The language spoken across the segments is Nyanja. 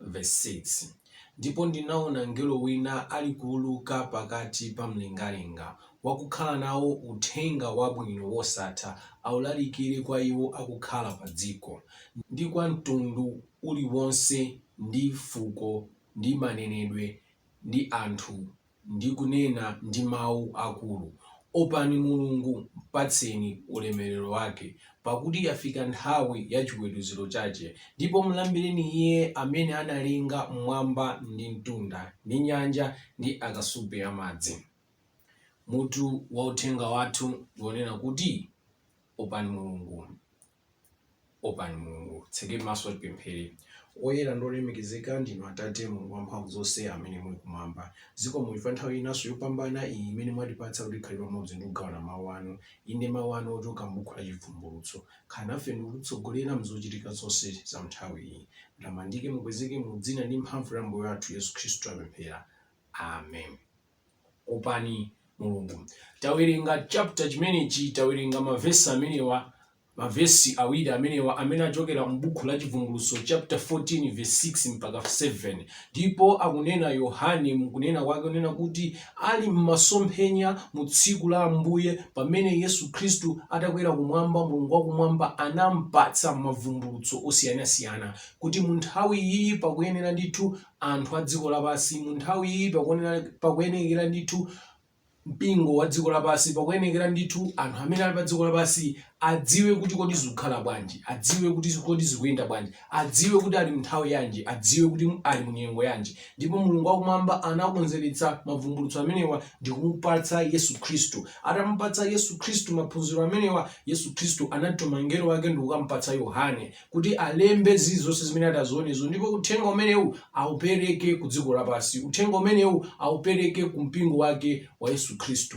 Vesi 6, Ndipo ndinaona mngelo wina alikuuluka pakati pa mlengalenga, wakukhala nawo uthenga wabwino wosatha aulalikire kwa iwo akukhala padziko, ndi kwa mtundu uliwonse ndi fuko ndi manenedwe ndi anthu. ndi kunena ndi mau akulu, Opani Mulungu, mpatseni ulemerero wake, pakuti yafika nthawi ya chiweruziro chake, ndipo mlambireni Iye amene analenga m'mwamba ndi mtunda, ndi nyanja, ndi akasupe a madzi. Mutu wa uthenga wathu ndi wonena kuti Opani Mulungu. Opani Mulungu. Titseke maso tipemphere. Oyera ndi olemekezeka ndinu Atate, Mulungu wamphamvu zonse amene muli kumwamba. Zikomo chifukwa nthawi inanso yopambana iyi imene mwatipatsa kuti tikhale pamodzi ndi kugawana mawu anu, inde mawu anu ochoka m'buku la Chivumbulutso. Khala nafe ndi kutitsogolera m'zochitika zonse za m'nthawi iyi. Mutamandike, mukwezeke mu dzina ndi mphamvu ya Ambuye wathu Yesu Khristu tapemphera. Amen. opani Mulungu. Tawerenga chapter chimenechi, tawerenga mavesi amenewa, mavesi awiri amenewa amene achokera m'buku la Chivumbulutso chapter 14 verse 6 mpaka 7, ndipo akunena Yohane mukunena kwake unena kuti ali m'masomphenya mu tsiku la Ambuye pamene Yesu Khristu atakwera kumwamba, Mulungu wakumwamba anampatsa mavumbulutso osiyanasiyana kuti mu nthawi iyi pakuyenera ndithu anthu a dziko lapansi mu nthawi iyi pakuyenekera ndithu mpingo wa dziko lapansi, pakuyenekera ndithu anthu amene ali pa dziko lapansi adziwe kuti kodi zikukhala bwanji, adziwe kuti kodi zikuyenda bwanji, adziwe kuti ali mu nthawi yanji, adziwe kuti ali mu nyengo yanji. Ndipo Mulungu wakumwamba anakonzeretsa mavumbulutso amenewa ndi kumupatsa Yesu Khristu. Atamupatsa Yesu Khristu maphunziro amenewa, Yesu Khristu anatuma mngelo wake ndi kukamupatsa Yohane kuti alembe zilizonse zimene atazionezo ndipo uthenga umenewu aupereke ku dziko lapansi uthenga umenewu aupereke ku mpingo wake wa yesu khristu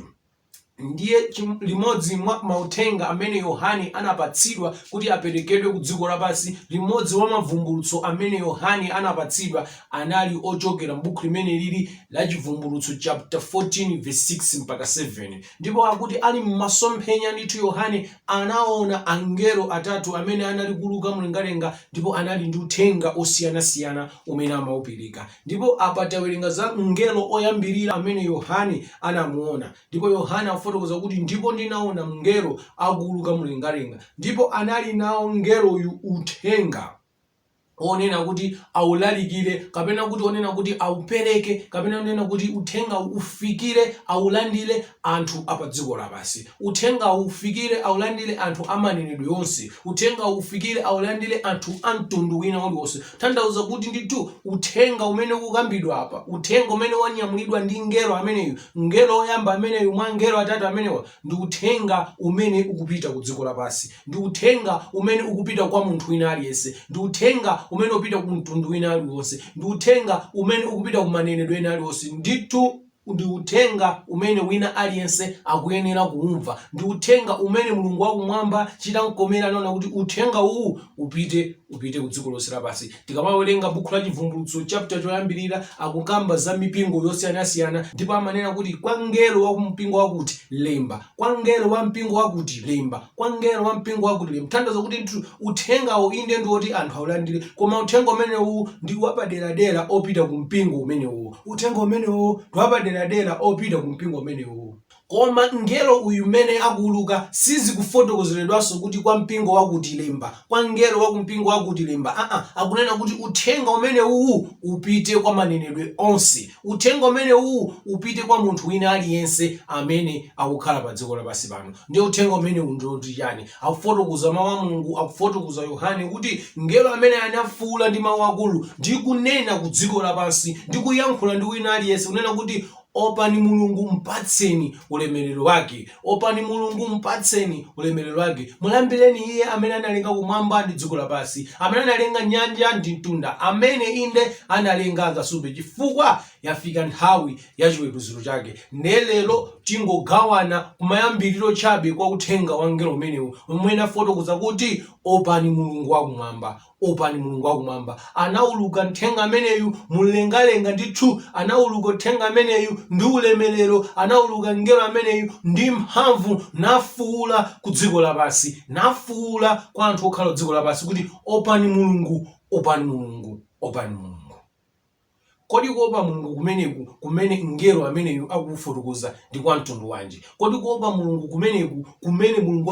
ndiye limodzi mwa mauthenga amene yohane anapatsidwa kuti aperekedwe ku dziko lapansi limodzi wa mavumbulutso amene yohane anapatsidwa anali ochokera m'buku limeneli la chivumbulutso chapter 14 verse 6 mpaka 7 ndipo akuti ali m'masomphenya ndithu yohane anaona angelo atatu amene anali kuuluka mlengalenga ndipo anali ndi uthenga osiyanasiyana umene amaupereka. Ndipo apa tawerenga za mngelo oyambirira amene Yohane anamuona. Ndipo Yohane afotokoza kuti, ndipo ndinaona mngelo akuuluka mlengalenga, ndipo anali nawo mngeloyu uthenga. onena kuti aulalikire kapena kuti onena kuti aupereke kapena onena kuti uthenga ufikire aulandire anthu a pa dziko lapansi uthenga ufikire aulandire anthu amanenedwe onse uthenga ufikire aulandire anthu a mtundu wina uliwonse tanthauza kuti ndithu uthenga umene ukukambidwa apa uthenga umene wanyamulidwa ndi ngelo ameneyu ngelo woyamba ameneyu mwa ngelo atatu amenewa Ndi Uthenga umene ukupita ku dziko lapansi. Ndi Uthenga umene ukupita kwa munthu wina aliyense. Ndi Uthenga umene upita ku mtundu wina aliwonse. Ndi Uthenga umene ukupita ku manenedwe ena aliwonse. Ndithu Ndi Uthenga umene wina aliyense akuyenera kuwumva. Ndi Uthenga umene Mulungu wa Kumwamba chitamkomera naona kuti Uthenga uwu upite, upite ku dziko lonse lapansi. Tikamawerenga buku la Chivumbulutso chapter choyambirira akukamba za mipingo yosiyanasiyana ndipo amanena kuti kwa mngelo wa mpingo wakuti lemba, kwa mngelo wa mpingo wakuti lemba, kwa mngelo wa mpingo wakuti lemba. Tanthauza kuti uthengawo inde ndi woti anthu aulandire koma uthenga umenewu ndi wapaderadera opita ku mpingo umenewo. Uthenga umenewo ndi wapaderadera opita ku mpingo umenewo. Koma mngelo uyu mmene akuwuluka, sizikufotokozeredwanso kuti kwa mpingo wakuti, Lemba, kwa mngelo wa ku mpingo wakuti, Lemba. A-nha. Akunena kuti, Uthenga umene uwu upite kwa manenedwe onse. Uthenga umene uwu upite kwa munthu wina aliyense amene akukhala pa dziko lapansi pano. Ndiye Uthenga umenewu ndi woti chiyani? Akufotokoza Mawu a Mulungu, akufotokoza Yohane kuti, Mngelo ameneyo anafuula ndi mawu akulu, ndi kunena ku dziko lapansi, ndi kuyankhula ndi wina aliyense, kunena kuti, Opani Mulungu, mpatseni ulemerero Wake. Opani Mulungu, mpatseni ulemerero Wake. Mulambireni Iye amene analenga kumwamba ndi dziko lapansi, amene analenga nyanja ndi mtunda, amene, inde, analenga akasupe, chifukwa yafika nthawi ya chiweruziro Chake. Ndiye lero tingogawana kumayambiriro chabe kwa Uthenga wa mngelo umenewu, momwe anafotokoza kuti, Opani Mulungu wa Kumwamba. Opani Mulungu wa Kumwamba. Anauluka mthenga ameneyu mu mlengalenga, ndithu, anauluka mthenga ameneyu ndi ulemerero, anauluka mngelo ameneyu ndi mphamvu, nafuula ku dziko lapansi, nafuula kwa anthu okhala dziko lapansi, kuti, Opani Mulungu, opani Mulungu, opani Mulungu. Kodi kuopa Mulungu kumeneku kumene mngelo ameneyu akufotokoza ndi kwa mtundu wanji? Kodi kuopa Mulungu kumeneku kumene Mulungu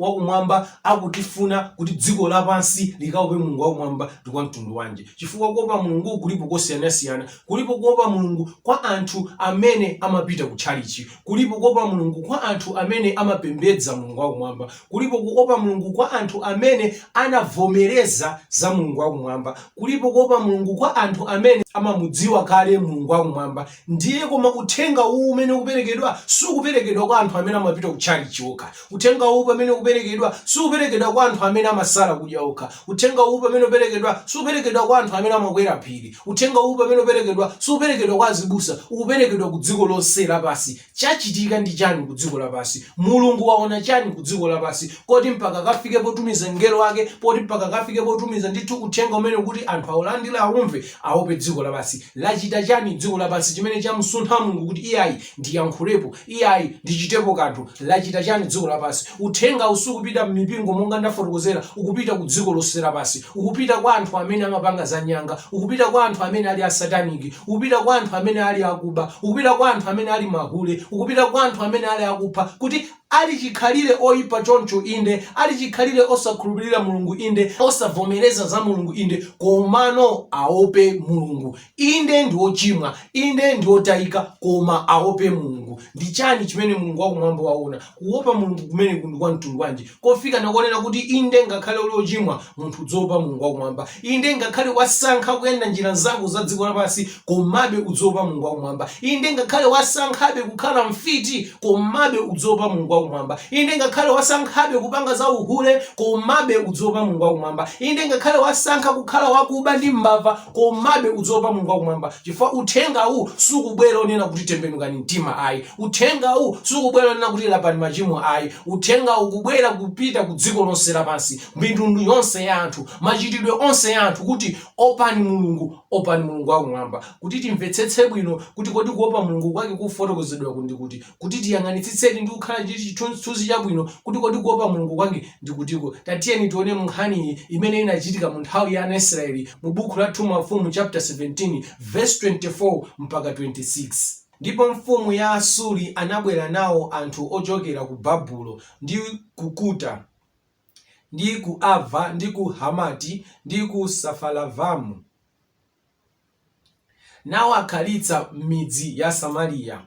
wakumwamba akutifuna kuti dziko lapansi likaope Mulungu wakumwamba ndi kwa mtundu wanji? Chifukwa kuopa Mulungu kulipo kosiyanasiyana. Kulipo kuopa Mulungu kwa anthu amene amapita kutchalitchi. Kulipo kuopa Mulungu kwa anthu amene amapembedza Mulungu Wakumwamba. Kulipo kuopa Mulungu kwa anthu amene anavomereza za Mulungu Wakumwamba. Kulipo kuopa Mulungu kwa anthu amene amamudziwa kale Mulungu Wakumwamba. Ndiye koma uthenga uwu umene ukuperekedwa sukuperekedwa kwa anthu amene amapita ku tchalitchi okha. Uthenga uwu pamene ukuperekedwa, superekedwa kwa anthu amene amasala kudya okha. Uthenga uwu pamene uperekedwa, superekedwa kwa anthu amene amakwera phiri. Uthenga uwu pamene uperekedwa, superekedwa kwa azibusa. Ukuperekedwa ku dziko lonse lapansi. Chachitika ndi chani ku dziko lapansi? Mulungu waona chani ku dziko lapansi koti mpaka akafike potumiza mngelo wake, poti mpaka akafike potumiza ndithu uthenga umenewu kuti anthu aulandire, aumve, aope dziko lapansi? Lachita chani dziko lapansi chimene chamusuntha Mulungu kuti iyayi, ndiyankhulepo? Iyayi, ndichitepo kanthu. Lachita chani dziko lapansi? Uthengawu sukupita mmipingo monga ndafotokozera, ukupita ku dziko lonse lapansi. Ukupita kwa anthu amene amapanga za nyanga, ukupita kwa anthu amene ali a satanic, ukupita kwa anthu amene ali akuba, ukupita kwa anthu amene ali mahule, ukupita kwa anthu amene ali akupha, kuti ali chikhalire oipa choncho, inde, ali chikhalire osakhulupirira Mulungu, inde, osavomereza za Mulungu, inde, komano aope Mulungu. Inde, ndi ochimwa, inde, ndi otayika, koma awope Mulungu. Ndi chani chimene Mulungu wa Kumwamba waona? Kuwopa Mulungu kumeneku ndi kwa mtundu wanji? Kofika na konena kuti, inde, ngakhale uli ochimwa, munthu udziopa Mulungu wa Kumwamba. Inde, ngakhale wasankha kuyenda njira zako za dziko lapansi, komabe udziopa Mulungu wa Kumwamba. Inde, ngakhale wasankhabe kukhala mfiti, komabe udziopa Mulungu wa Kumwamba. Inde, ngakhale wasankhabe kupanga za uhule, komabe udziopa Mulungu wa Kumwamba. Inde, ngakhale wasankha kukhala wakuba ndi mbava, Komabe udziopa Mulungu wakumwamba, chifukwa uthengawu sukubwera onena kuti tembenukani mtima ayi. Uthengawu sukubwera onena kuti lapani machimo ayi. Uthengawu ukubwera kupita ku dziko lonse lapansi, mitundu yonse ya anthu, machitidwe onse ya anthu kuti opani Mulungu, opani Mulungu wakumwamba. Kuti timvetsetse bwino kuti kodi kuopa Mulungu kwake kufotokozedwaku ndi kuti, kuti tiyang'anitsitseni ndi kukhala ndi chithunzithunzi chabwino kuti kodi kuopa Mulungu kwake ndi kutiko. Tatiyeni tione m'nkhaniyi imene inachitika mu nthawi ya ana Israeli mu buku la 2 Mafumu chapter 17 verse 24 mpaka 26. Ndipo mfumu ya Asuri anabwera nawo anthu ochokera ku Babulo, ndi ku Kuta, ndi ku Ava, ndi ku Hamati, ndi ku Safaravamu, nawakhalitsa m'midzi ya Samariya,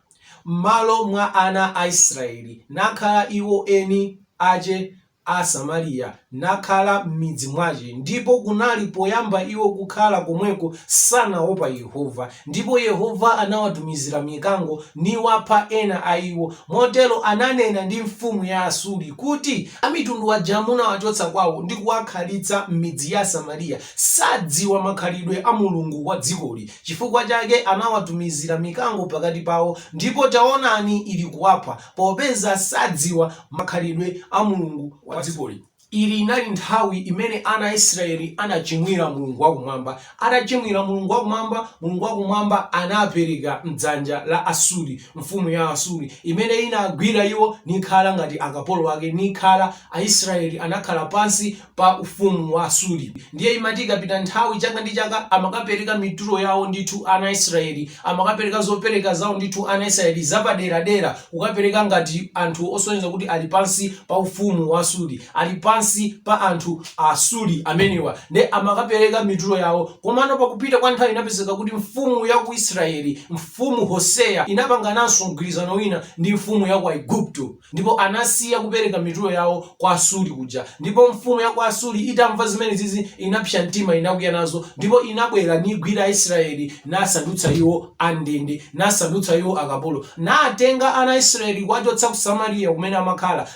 m'malo mwa ana a Israyeli, nakhala iwo eni ace a Samariya, nakhala m'midzi mwace, ndipo kunali, poyamba iwo kukhala komweko, sanaopa Yehova, ndipo Yehova anawatumizira mikango, niwapha ena a iwo, motero ananena ndi mfumu ya Asuri, kuti, Amitundu aja munawacotsa kwao ndi kuwakhalitsa m'midzi ya Samariya, Sadziwa makhalidwe a Mulungu wa dzikoli, chifukwa chake anawatumizira mikango pakati pawo, ndipo taonani, ilikuwapha, popeza sadziwa makhalidwe a Mulungu wa dzikoli. Ili inali nthawi imene ana a Israeli anachimwira Mulungu wa Kumwamba. Atachimwira Mulungu wa Kumwamba, Mulungu wa Kumwamba anawapereka m'dzanja la Asuri, mfumu ya Asuri, imene inagwira iwo nikhala ngati akapolo ake, nikhala, Aisraeli anakhala pansi pa ufumu wa Asuri. Ndiye imati ikapita nthawi chaka ndi chaka amakapereka mitulo yawo ndithu ana a Israeli, amakapereka zopereka zawo ndithu ana a Israeli zapaderadera kukapereka ngati anthu osonyeza kuti ali pansi pa ufumu wa Asuri, ali pansi pa anthu a Asuri amenewa. Ndiye amakapereka mitulo yawo. Komano pakupita kwa nthawi inapezeka kuti mfumu ya ku Israeli, mfumu Hoseya inapangananso mgwirizano wina ndi mfumu ya ku Aigupto. Ndipo anasiya kupereka mitulo yawo kwa Asuri kuja. Ndipo mfumu ya ku Asuri itamva zimenezizi, inapsa mtima, inakwiya nazo, ndipo inabwera nigwira Aisraeli, nasandutsa iwo andende, nasandutsa iwo akapolo, natenga ana a Israeli kuwachotsa ku Samariya kumene amakhala,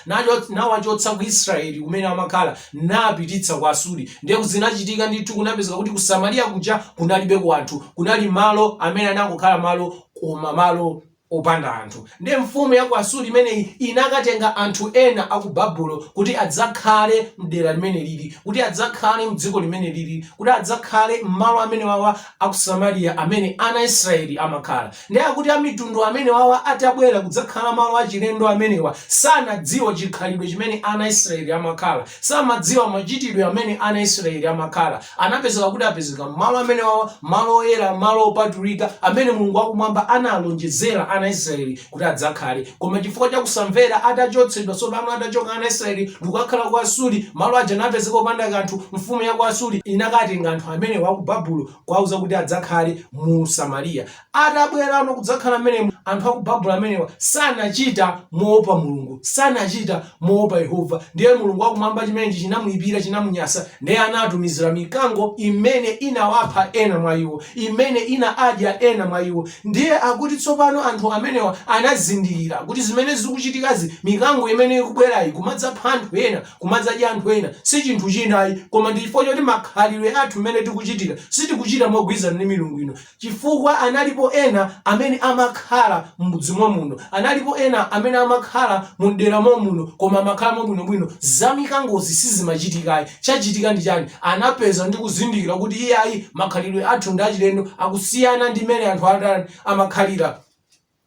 nawachotsa ku Israeli kumene amakhala, napititsa ku Asuri. Ndiye zinachitika ndithu, kunapezeka kuti ku Samariya kuja kunalibeko anthu, kunali malo amene anangokhala malo, koma malo opanda anthu. Ndiye mfumu ya ku Asuri imeneyi inakatenga anthu ena a ku Babulo kuti adzakhale m'dera limene lili, kuti adzakhale m'dziko limene lili, kuti adzakhale m'malo amenewawa a ku Samariya amene ana a Israeli amakhala. Ndiye akuti amitundu amenewawa atabwera kudzakhala malo achilendo amenewa, samadziwa chikhalidwe chimene ana a Israeli amakhala, samadziwa machitidwe amene ana a Israeli amakhala. Anapezeka kuti apezeka m'malo amenewawa, malo oyera, malo opatulika, amene Mulungu wa kumwamba analonjezera ana Israeli kuti adzakhale. Koma chifukwa cha kusamvera, atachotsedwa, tsopano atachoka ana Israeli ndikukakhala ku Asuri, malo aja napezeka opanda kanthu, mfumu ya ku Asuri inakatenga anthu amenewa aku Babulo kuwauza kuti adzakhale mu Samariya. Atabwerano kudzakhala mmenemo, anthu a ku Babulo amenewa sanachita moopa Mulungu, sanachita moopa Yehova. Ndiye Mulungu wa Kumwamba chimenechi chinamuipira, chinamunyasa, ndiye anatumizira mikango imene inawapha ena mwa iwo, imene inawadya ena mwa iwo. Ndiye akuti tsopano anthu amenewa anazindikira kuti zimene zikuchitikazi, mikango imene ikubwerayi kumadzapha anthu ena, kumadzadya anthu ena, si chinthu china ayi, koma ndi chifukwa choti makhalidwe athu mmene tikuchitira, sitikuchita mogwirizana ndi milungu ino. chifukwa analipo ena amene amakhala m'mudzi momuno, analipo ena amene amakhala mu m'dera momuno koma amakhala mwabwinobwino, za mikangozi sizimachitika ayi, chachitika ndi chani, anapeza ndi kuzindikira kuti iyayi makhalidwe athu ndi achilendo akusiyana ndi mmene anthu atani amakhalira.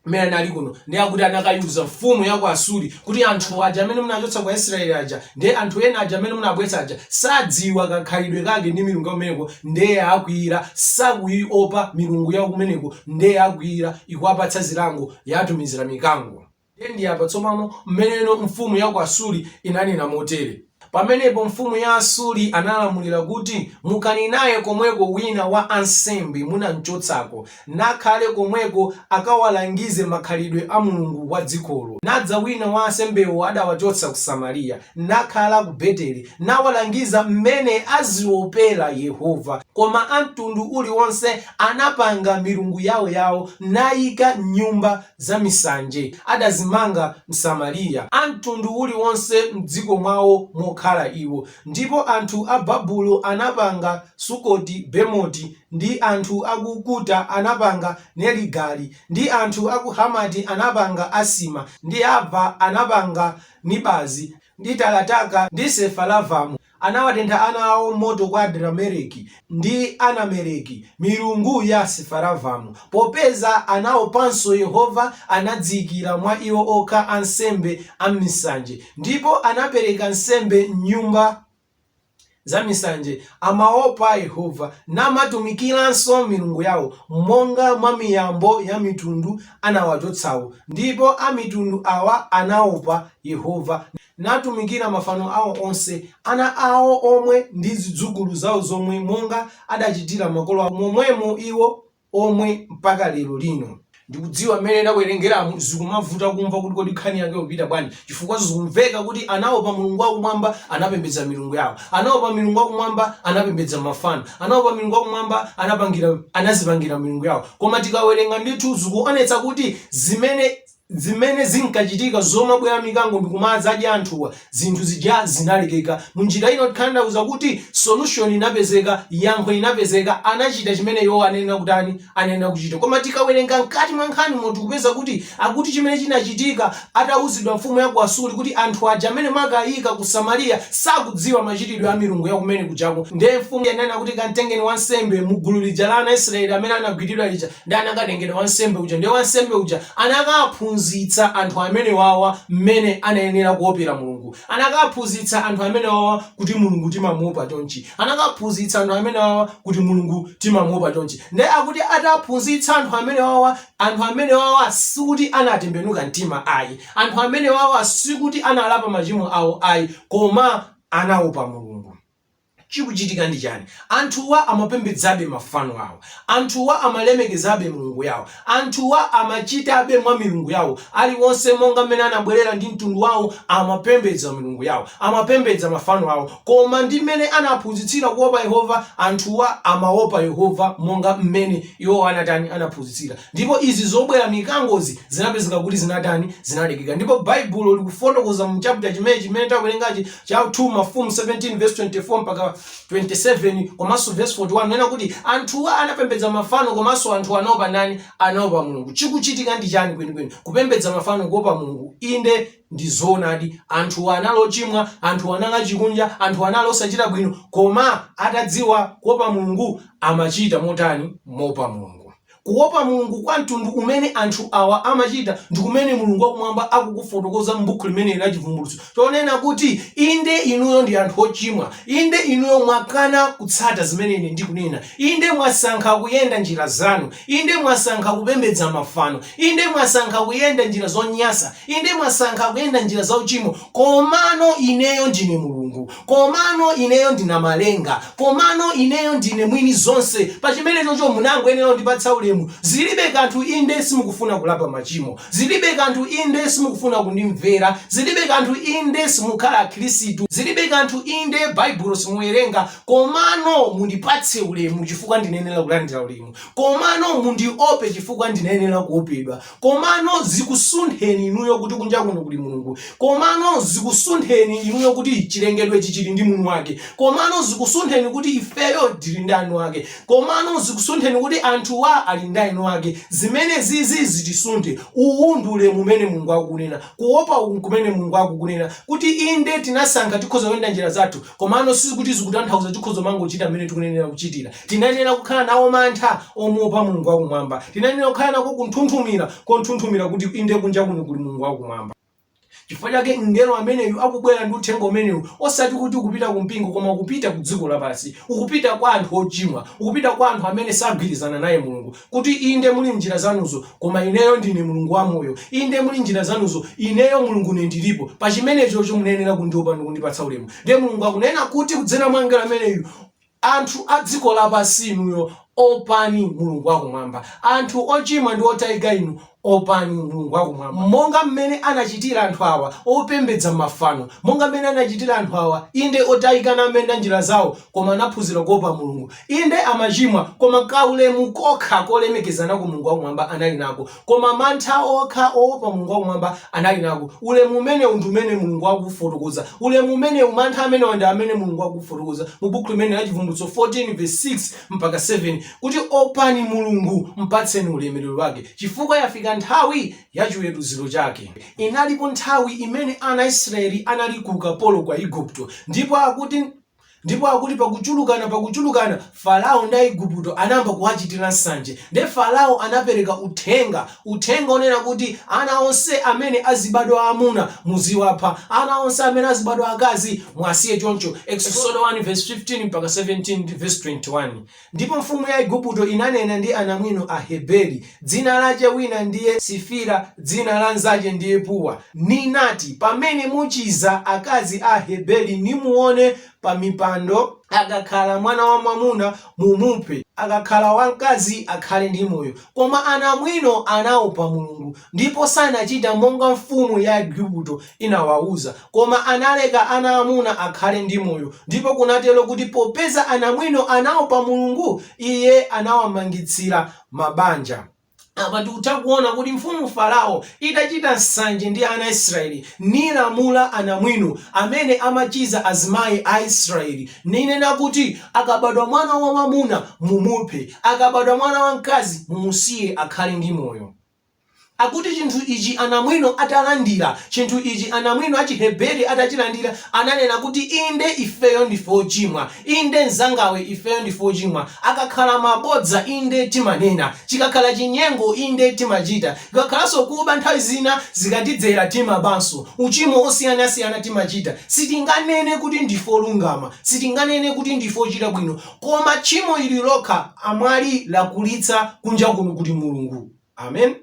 mmene anali kuno, ndiye akuti anakaiuza mfumu ya ku Asuri kuti, Anthu aja amene munachotsa ku Aisiraeli aja, ndiye anthu ena aja amene munabweretsa aja, sadziwa kakhalidwe kake ndi milungu ya kumeneko, ndiye yakwiya, sakuiopa milungu ya kumeneko, ndiye yakwiya, ikuwapatsa zilango, yatumizira mikango. Ndiye ndi apa tsopano mmene mfumu ya ku Asuri inanena motere. Pamenepo mfumu ya Asuri analamulira kuti, Mukani naye komweko wina wa ansembe munamchotsako, nakhale komweko akawalangize makhalidwe a Mulungu wa dzikolo. Nadza wina wa ansembewo adawachotsa ku Samariya, nakhala ku Beteli, nawalangiza m'mene aziopera Yehova. Koma a mtundu uliwonse anapanga milungu yaoyao, naika m'nyumba za misanje adazimanga Asamariya, a mtundu uliwonse m'dziko mwao mokhala iwo, ndipo anthu a Babulo anapanga Sukoti Bemoti, ndi anthu a ku Kuta anapanga Nerigali, ndi anthu a ku Hamati anapanga Asima, ndi Ava anapanga Nibazi, ndi Tarataka, ndi Sefaravamu. Anawatentha ana awo m'moto kwa Adrameleki ndi Anameleki, milungu ya Asifaravamu. Popeza anaopanso Yehova, anadziikira mwa iwo okha ansembe a m'misanje, ndipo anapereka nsembe m'nyumba zamisanje. Amaopa Yehova, namatumikiranso milungu yao, monga mwa miyambo ya mitundu anawachotsawo, ndipo amitundu awa anaopa Yehova. natumikira mafano ao onse, ana ao omwe ndi zidzukulu zao zomwe, monga adachitira makolo ao, momwemo iwo omwe mpaka lero lino. Ndikudziwa mmene ndawerengeramu zikumavuta kumva kuti kodi nkhani yake ikupita bwanji chifukwa zikumveka kuti anaopa Mulungu wakumwamba anapembedza milungu yao, anaopa Mulungu wakumwamba anapembedza mafano, anaopa Mulungu wakumwamba anapangira anazipangira milungu yao koma tikawerenga ndithu zikuonetsa kuti zimene zimene zinkachitika zomabwera mikango ndikumadzadya anthuwa zinthu zija zinalekeka munjira ina kutanthauza kuti solution inapezeka yankho inapezeka anachita chimene iwowo anayenera kutani anayenera kuchita koma tikawerenga mkati mwa nkhanimo tikupeza kuti akuti chimene chinachitika atauzidwa mfumu ya ku asuri kuti anthu aja amene mwakaika ku samariya sakudziwa machitidwe a milungu ya kumene kujako nde mfumu inanena kuti kantengeni wansembe mugulu lija la ana israeli amene anagwidwa lija Nde anakatengedwa wansembe uja. Ndiye wansembe uja anakaphunzitsa anthu amene wawa mmene anayenera kuopera Mulungu. Anakaphunzitsa anthu amene wawa kuti Mulungu timamuopa chonchi. Anakaphunzitsa anthu amene wawa kuti Mulungu timamuopa chonchi. Ndiye akuti ataphunzitsa anthu amene wawa, anthu amene wawa sikuti anatembenuka mtima ayi. Anthu amene wawa sikuti analapa machimo awo ayi, koma anaopa Mulungu. Chikuchitika ndi chani? Anthuwa amapembedzabe mafano awo. Anthuwa amalemekezabe milungu yawo. Anthuwa amachitabe mwa milungu yawo. Aliwonse monga mmene anabwelera ndi mtundu wawo amapembedza milungu yawo. Amapembedza mafano awo. Koma ndi mmene anaphunzitsira kuopa Yehova, anthuwa amaopa Yehova monga mmene iwo anatani, anaphunzitsira. Ndipo izi zobwera mikangozi zinapezeka kuti zinatani, zinalekeka. Ndipo Baibulo likufotokoza mu chapter chimene chimene tawerengachi Cha 2 Mafumu 17 vs 24 mpaka 27 komanso vesi 41 kunena kuti anthuwa anapembedza mafano komanso anthuwa anaopa ndani? Anaopa Mulungu. Chikuchitika ndi chani kwenikweni? Kupembedza mafano kuopa Mulungu? Inde ndi zoonadi anthuwa anali ochimwa, anthuwa anali achikunja, anthuwa anali osachita bwino koma atadziwa kuopa Mulungu amachita motani? Moopa Mulungu. Kuopa Mulungu kwa mtundu umene anthu awa amachita ndi kumene Mulungu wa Kumwamba akukufotokoza m'Bukhu limeneli la Chivumbulutso, chonena kuti, Inde, inuyo ndi anthu ochimwa. Inde, inuyo mwakana kutsata zimene Ine ndikunena. Inde, mwasankha kuyenda njira zanu. Inde, mwasankha kupembedza mafano. Inde, mwasankha kuyenda njira zonyansa. Inde, mwasankha kuyenda njira zauchimo. Komano Ineyo ndine Mulungu. Komano ineyo ndi Namalenga. Komano ineyo ndine mwini zonse. Pa chimenechocho munangoyenera kundipatsa ulemu. Zilibe kanthu inde simukufuna kulapa machimo. Zilibe kanthu inde simukufuna kundimvera. Zilibe kanthu inde simukhala akhirisitu. Zilibe kanthu inde Baibulo simuwerenga. Komano mundipatse ulemu chifukwa ndinayenera kulandira ulemu. Komano mundiope chifukwa ndinayenera kuopedwa. komano zikusuntheni inuyo kuti kunja kuno kuli mulungu komano zikusuntheni inuyo kuti chilengedwe ichi chili ndi mwini wake komano zikusuntheni kuti ifeyo tili ndi mwini wake komano zikusuntheni kuti anthuwa ali ndi mwini wake zimenezizi zitisunthe uwu ndi ulemu umene mulungu akukunena kuopa uku kumene mulungu akukunena kuti inde tinasankha tikhoza kuyenda njira zathu Komano sikuti zikutanthauza tikhoza kumangochita mmene tikunenera kuchitira. Tinayenera kukhala nawo mantha omuopa Mulungu wa Kumwamba. Tinayenera kukhala nako kunthunthumira konthunthumira kuti inde kunja kuno kuli Mulungu wa Kumwamba. Chifukwa chake mngelo ameneyu akubwera ndi uthenga umenewu, osati kuti ukupita ku mpingo, koma ukupita ku dziko lapansi. Ukupita kwa anthu ochimwa. Ukupita kwa anthu amene sagwirizana naye Mulungu. Kuti, Inde, muli njira zanuzo, koma Ineyo Ndine Mulungu wamoyo. Inde, muli njira zanuzo, Ineyo Mulungune Ndiripo. Pa chimenechocho munayenera kundiopa ndi kundipatsa ulemu. Ndiye Mulungu akunena kuti kudzera mwa mngelo ameneyu, Anthu a dziko lapansi inuyo, opani Mulungu wa Kumwamba. Anthu ochimwa ndi otayika inu, Opani Mulungu wakumwamba, monga mmene anachitira anthu awa, opembedza mafano, monga mmene anachitira anthu awa, inde, otayika nayenda njira zawo, koma anaphunzira kuopa Mulungu, inde, amachimwa, koma kaulemu kokha kolemekeza nako Mulungu wakumwamba anali nako, koma mantha okha oopa Mulungu wakumwamba anali nako. Ulemu umenewu ndi umene Mulungu akuufotokoza. Ulemu umenewu, mantha amenewa ndi amene Mulungu akuufotokoza mu Bukhu limeneli la Chivumbulutso 14 vesi 6 mpaka. 7 kuti, Opani Mulungu, mpatseni ulemerero wake, chifukwa yafika nthawi ya chiweruziro chake. Inalipo nthawi imene ana a Israeli anali ku ukapolo kwa Aigupto, ndipo akuti, ndipo akuti pakuchulukana, pakuchulukana, Farao ndi Aigupto anayamba kuwachitira nsanje. Nde Farao anapereka uthenga, uthenga onena kuti ana onse amene azibadwa aamuna muziwapha, ana onse amene azibadwa aakazi muwasiye choncho. Eksodo 1 vesi 15-17 ndi vesi 21. Ndipo mfumu ya Aigupto inanena ndi anamwino a Aheberi, dzina lache wina ndiye Sifira, dzina la mnzache ndiye Pua, ninati, Pamene muchiza akazi a Aheberi, nimuone pamipando, akakhala mwana wamwamuna, mumuphe, akakhala wamkazi, akhale ndi moyo. Koma anamwino anaopa Mulungu, Ndipo sanachita monga mfumu ya Aigupto inawauza, koma analeka ana amuna akhale ndi moyo, ndipo kunatero kuti popeza anamwino anaopa Mulungu, Iye anawamangitsira mabanja. Apa tikutha kuona kuti mfumu Farao itachita nsanje ndi ana a Israeli, nilamula anamwino amene amachiza azimayi a Israeli, ninena kuti, Akabadwa mwana wamwamuna mumuphe, akabadwa mwana wamkazi mumusiye akhale ndi moyo. Akuti chinthu ichi anamwino atalandira, chinthu ichi anamwino a Chiheberi atachilandira, ananena kuti, Inde, ifeyo ndife ochimwa. Inde, mnzangawe, ifeyo ndife ochimwa. Akakhala mabodza, inde, timanena. Chikakhala chinyengo, inde, timachita. Ikakhalanso kuba, nthawi zina zikatidzera, timabanso. Uchimo osiyanasiyana timachita. Sitinganene kuti ndife olungama. Sitinganene kuti ndife ochita bwino. Koma tchimo ili lokha amwali lakulitsa kunja kuno kuli Mulungu. Amen.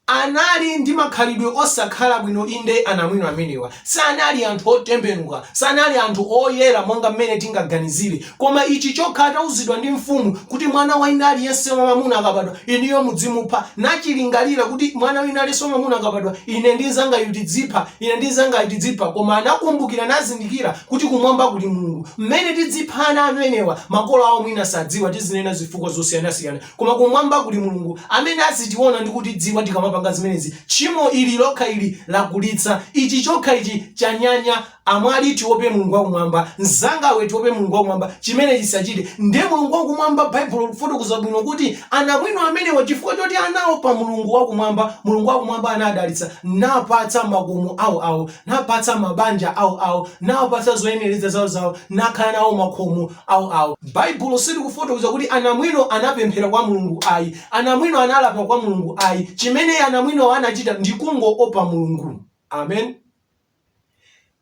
Anali ndi makhalidwe osakhala bwino, inde, anamwino amenewa sanali anthu otembenuka, sanali anthu oyera monga mmene tingaganizire. Koma ichi chokha, atauzidwa ndi mfumu kuti mwana wina aliyense wamwamuna akabadwa, inuyo mudzimupha, nachilingalira kuti mwana wina aliyense wamwamuna akabadwa, ine ndi mnzangayu tidzipha. Ine ndi mzangayu tidzipha koma anakumbukira nazindikira kuti kumwamba kuli Mulungu. Mmene tidzipha ana amenewa makolo awo mwina sadziwa tizinena zifukwa zosiyanasiyana koma kumwamba kuli Mulungu amene azitiona ndi kutidziwa tikamapanga zimenezi tchimo ili lokha ili lakulitsa ichi chokha ichi chanyanya amwali tiope Mulungu wakumwamba mzangawe tiope Mulungu wakumwamba chimenechi tisachite nde Mulungu wakumwamba Baibulo likufotokoza bwino kuti anamwino amenewa chifukwa choti anaopa Mulungu wakumwamba Mulungu wakumwamba anadalitsa napatsa makhomo ao ao, napatsa mabanja ao ao, nawapatsa zoyenereza zao zao, nakhala nawo makhomo ao ao. Baibulo silikufotokoza kuti anamwino anapemphera kwa Mulungu ayi, anamwino analapa kwa Mulungu ayi, chimene anamwinowo anachita ndi kungoopa Mulungu. Amen.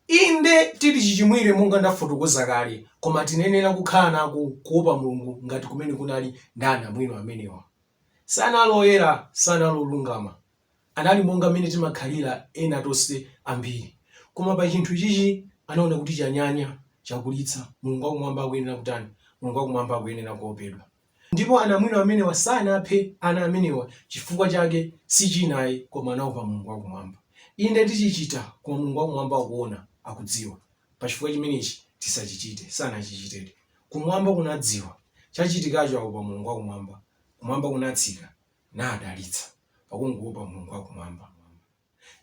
Inde, tili chichimwire monga ndafotokoza kale, koma tinenera kukhala nako kuopa Mulungu ngati kumene kunali ndi anamwino amenewa. Sanali oyera, sanali olungama, Anali monga mmene timakhalila ena tonse ambili. Koma pa cinthu icici anaona kuti canyanya, cakulitsa, Mulungu wakumwamba akuyenela kutani? Mulungu wakumwamba akuyenela kuopedwa. Ndipo anamwino amenewa sanaphe ana amenewa cifukwa cake si cina ai koma anaopa Mulungu wakumwamba. Inde ticicita, koma Mulungu wakumwamba akuona, akudziwa. Pa cifukwa cimeneci tisacicite. Sanacicitedi. Kumwamba kunadziwa. Cacitikaco aopa Mulungu wakumwamba. Kumwamba kunatsika. nadalitsa pakungowopa Mulungu wa Kumwamba.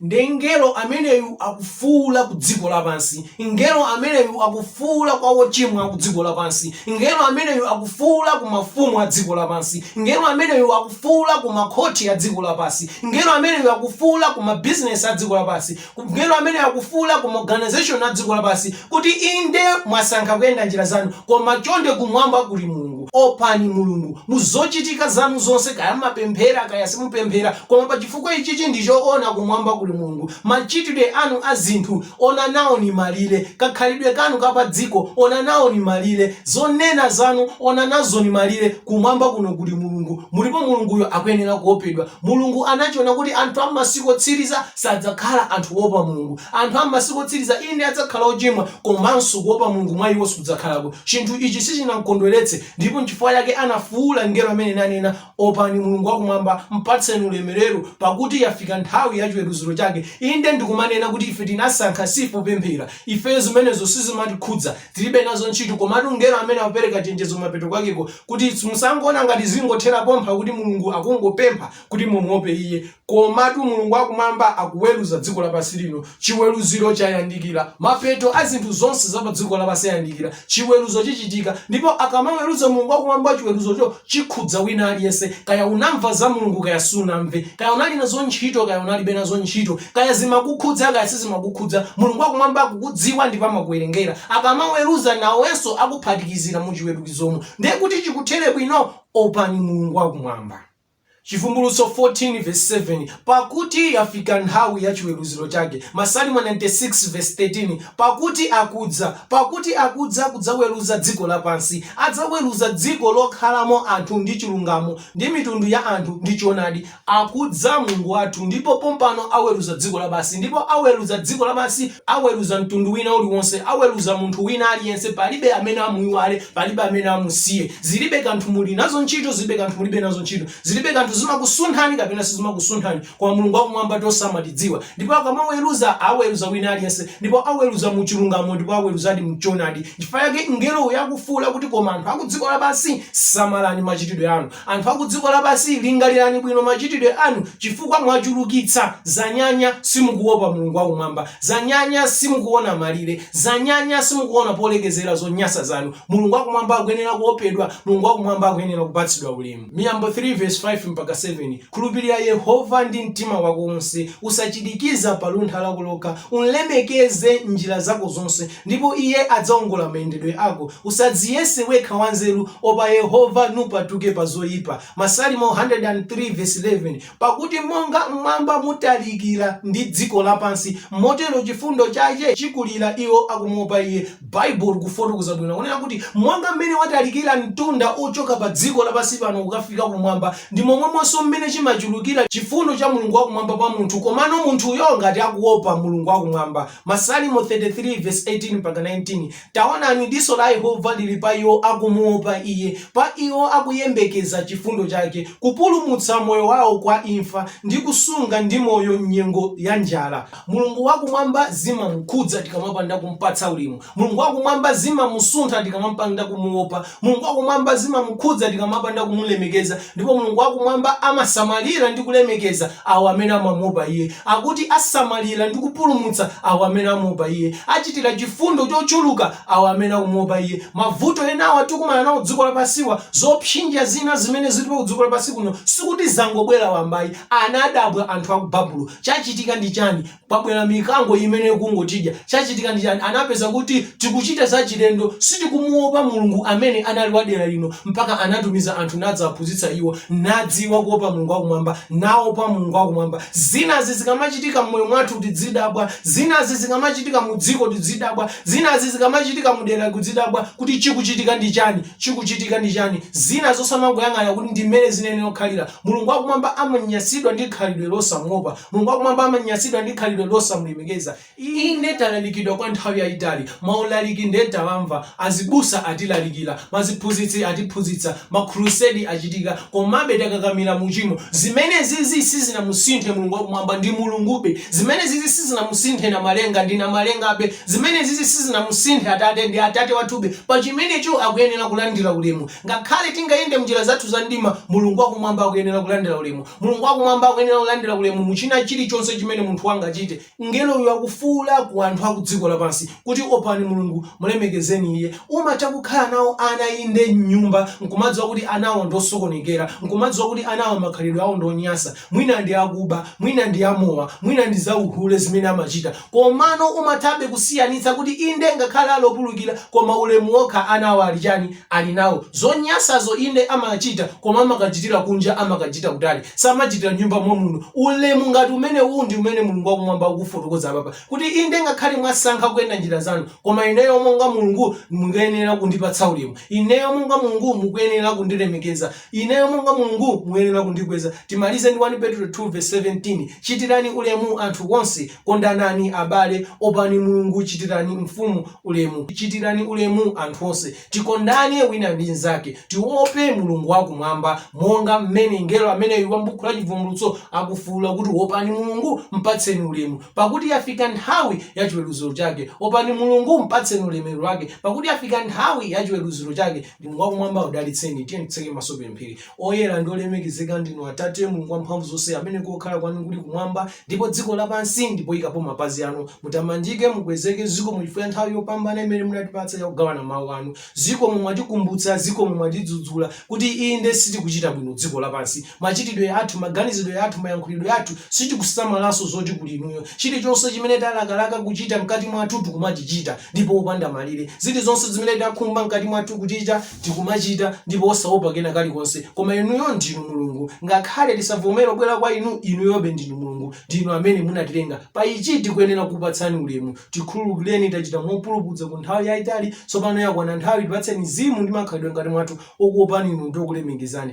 Nde mngelo ameneyu akufuula ku dziko lapansi, mngelo ameneyu akufuula kwa wochimwa ku dziko lapansi, mngelo ameneyu akufuula ku mafumu a dziko lapansi, mngelo ameneyu akufuula ku makhoti a dziko lapansi, mngelo ameneyu akufuula ku mabizinesi a dziko lapansi, Mngelo ameneyu akufuula ku maorganization a dziko lapansi, kuti, Inde, mwasankha kuyenda njira zanu, koma chonde Kumwamba kuli Mulungu. Opani Mulungu, mu zochitika zanu zonse, kaya mmapemphera kaya simupemphera, koma pa chifukwa ichichi ndi choona, Kumwamba kuli Mulungu. Machitidwe anu a zinthu, onani naoni malire. Kakhalidwe kanu ka pa dziko, onani naoni malire. Zonena zanu, onani nazoni malire. Kumwamba kuno kuli Mulungu. Mulipo Mulunguyo akuyenera kuopedwa. Mulungu anachiona kuti anthu a m'masiku otsiriza Sadzakhala anthu oopa Mulungu. Anthu a m'masiku otsiriza, inde adzakhala ochimwa, komanso kuopa Mulungu mwa iwo sikudzakhalako. Chinthu ichi sichinamkondweretse, ndipo n'chifukwa chake anafuula mngelo amene nanena, Opani Mulungu wa Kumwamba, mpatseni ulemerero, pakuti yafika nthawi ya chiweruziro chake. Inde ndi kumanena kuti ife tinasankha si ife opemphera, ifeyo zimenezo sizimatikhudza, tilibe nazo ntchito, komatu mngelo amene akupereka chenjezo kumapeto kwakeko kuti, Musangoona ngati zingothera pompha kuti Mulungu akungopempha kuti mumuope Iye. Komatu Mulungu wa Kumwamba akuweruza dziko lapansi lino. Chiweruziro chayandikira. Mapeto a zinthu zonse za padziko lapansi ayandikira. Chiweruzo chichitika. Ndipo akamaweruza Mulungu wa Kumwamba, chiweruzocho chikhudza wina aliyense. Kaya unamva za Mulungu, kaya sunamve, kaya unali nazo ntchito, kaya unalibe nazo ntchito, kaya zimakukhudza, kaya sizimakukhudza, Mulungu wa Kumwamba akukudziwa ndipo amakuwerengera. Akamaweruza, nawenso akuphatikizira mu chiweruzomo. Ndiye kuti chikuthere bwino, opani Mulungu wa Kumwamba. Chivumbulutso 14 vesi 7 Pakuti yafika nthawi ya chiweruziro chake, Masalimo 96 vesi 13 Pakuti akudza, pakuti akudza kudzaweruza dziko lapansi, adzaweruza dziko lokhalamo anthu ndi chilungamo, ndi mitundu ya anthu ndi choonadi, akudza Mulungu wathu, ndipo pompano aweruza dziko lapansi, ndipo aweruza dziko lapansi aweruza mtundu wina uliwonse, aweruza munthu wina aliyense, palibe amene amuiwale, palibe amene amusiye. Zilibe kanthu muli nazo ntchito, zilibe kanthu mulibe nazo ntchito, zilibe kanthu zimakusunthani kapena sizimakusunthani, koma Mulungu wakumwamba tonse amatidziwa. Ndipo akamaweruza, aweruza wina aliyense, ndipo aweruza mu chilungamo, ndipo aweruzadi mu choonadi. Chifukwa chake mngelo uyu akufuula kuti, koma anthu a ku dziko lapansi, samalani machitidwe anu. Anthu a ku dziko lapansi, lingalirani bwino machitidwe anu, chifukwa mwachulukitsa. Zanyanya, simukuwopa Mulungu wa Kumwamba. Zanyanya, simukuwona malire. Zanyanya, simukuwona polekezera zonyansa zanu. Mulungu wa Kumwamba akuyenera kuwopedwa. Mulungu wa Kumwamba akuyenera kupatsidwa ulemu. Miyambo 3 vesi 5-7, Khulupirira Yehova ndi mtima wako wonse, usachirikiza pa luntha lako lokha, umlemekeze m'njira zako zonse, ndipo Iye adzaongola mayendedwe ako. Usadziyese wekha wanzeru, opa Yehova, nupatuke pa zoipa. Masalimo 103 vesi 11, Pakuti monga m'mwamba mutalikira ndi dziko lapansi, motero chifundo chache chikulira iwo akumuopa Iye. Baibulo likufotokoza bwino kunena kuti monga mmene watalikira mtunda ochoka pa dziko lapansi pano kukafika kumwamba, ndi momwemonso mmene chimachulukira chifundo cha Mulungu wakumwamba kwa munthu, komano munthuyo ngati akuopa Mulungu wakumwamba. Masalimo 33 vesi 18 mpaka 19, Taonani, diso la Yehova lili pa iwo akumuopa Iye, pa iwo akuyembekeza chifundo chake, kupulumutsa moyo wao kwa imfa, ndi kusunga ndi moyo m'nyengo ya njala. Mulungu wakumwamba zimamukhudza tikamapanda kumupatsa ulemu. Mulungu wakumwamba zimamusuntha tikamapanda kumuopa. Mulungu wakumwamba zimamukhudza tikamapanda kumulemekeza, ndipo Mulungu wakumwamba amasamalira ndi kulemekeza awo amene amamuopa iye. Akuti asamalira ndi kupulumutsa awo amene amuopa iye. Achitira chifundo chochuluka awo amene akumuopa iye. Mavuto enawa tikumana nawo kudziko lapansiwa, zopsinja zina zimene zilipo ku dziko lapansi kuno, sikuti zangobwera wamba ayi. Anadabwa anthu a ku Babulo. Chachitika ndi chani? kwabwera mikango imene ikungotidya chachitika ndi chani anapeza kuti tikuchita zachilendo sitikumuopa mulungu amene anali wa dera lino mpaka anatumiza anthu nadzaphunzitsa iwo nadziwa kuopa mulungu wakumwamba naopa mulungu wakumwamba zinazi zikamachitika mmoyo mwathu tidzidabwa zinazi zikamachitika mu dziko tidzidabwa zinazi zikamachitika mu dera tidzidabwa kuti chikuchitika ndi chani chikuchitika ndi chani zina zosamangoyang'ana kuti ndi mmene zinayenera kukhalira mulungu wakumwamba amanyasidwa ndi khalidwe losamuopa Mulungu wakumwamba amanyasidwa ndi khalidwe losamulemekeza. Inde talalikidwa kwa nthawi yayitali, maulaliki nde tawamva, azibusa atilalikira, maziphunzitsi atiphunzitsa, makhurusedi achitika, komabe takakamira mu uchimo. Zimenezizi sizinamusinthe Mulungu wakumwamba, ndi Mulungube. Zimenezizi sizinamusinthe Namalenga, ndi Namalengabe. Zimenezizi sizinamusinthe Atate, ndi Atate wathube. Pa chimenecho akuyenera kulandira ulemu. Ngakhale tingayende mnjira zathu za mdima, Mulungu wakumwamba akuyenera kulandira ulemu. Mulungu wa Kumwamba akuyenera kulandira ulemu mu china chilichonse chimene munthu angachite. Mngelo uyu akufuula ku anthu aku dziko lapansi, kuti, Opani Mulungu, mulemekezeni Iye. Umatha kukhala nawo ana, inde, m'nyumba, nkumadziwa kuti anawo ndi osokonekera, nkumadziwa kuti anawo makhalidwe awo ndi onyasa, mwina ndi akuba, mwina ndi amowa, mwina ndi za uhule zimene amachita, Komano umathabe kusiyanitsa kuti inde ngakhale ali opulukira koma ulemu wokha anawo ali chani ali nawo. Zonyasazo inde amachita koma amakachitira kunja amakachita kutali samachitira m'nyumba momuno. Ulemu ngati umenewu ndi umene Mulungu wakumwamba akufotokoza apapa kuti inde ngakhale mwasankha kuyenda njira zanu koma ineyo monga Mulungu mukuyenera kundipatsa ulemu. Ineyo monga Mulungu mukuyenera kundilemekeza. Ineyo monga Mulungu muyenera kundikweza. Timalize ndi 1 Petulo 2 vesi 17, Chitirani ulemu anthu onse, kondanani abale, opani Mulungu, chitirani mfumu ulemu. Chitirani ulemu anthu onse. Tikondane wina ndi mnzake. Tiope Mulungu wakumwamba monga mmene mngelo ameneyu wa m'buku la Chivumbulutso akufuula kuti, Opani Mulungu, m'patseni ulemu, pakuti yafika nthawi ya chiweruziro chake. Opani Mulungu, m'patseni ulemerero wake, pakuti yafika nthawi ya chiweruziro chake. Mulungu wakumwamba akudalitseni. Tiyeni titseke maso tipemphere. Oyera ndi olemekezeka ndinu Atate, Mulungu wamphamvu zonse, amene kokhala kwanu kuli kumwamba, ndipo dziko lapansi ndi poyikapo mapazi anu. Mutamandike, mukwezeke. Zikomo chifukwa cha nthawi yopambana imene munatipatsa ya kugawana Mawu anu. Zikomo, mwatikumbutsa, zikomo, mwatidzudzula, kuti inde sitikuchita bwino dziko lapansi. Machitidwe athu, maganizidwe athu, mayankhulidwe athu, sitikusamalanso zoti kuli inuyo. Chilichonse chimene talakalaka kuchita mkati mwathu tikumachichita ndipo opanda malire. Zilizonse zimene takhumba mkati mwathu kuchita tikumachita ndipo osaopa kena kalikonse. Koma inuyo ndinu Mulungu. Ngakhale tisavomere kubwera kwa inu, inuyobe ndinu Mulungu. Ndinu amene munatilenga. Pa ichi tikuyenera kukupatsani ulemu. Tikhululukireni tachita mopulupudza kwa nthawi yaitali. Tsopano yakwana nthawi tipatseni mzimu ndi makhalidwe mkati mwathu okuopani inu ndi okulemekezani.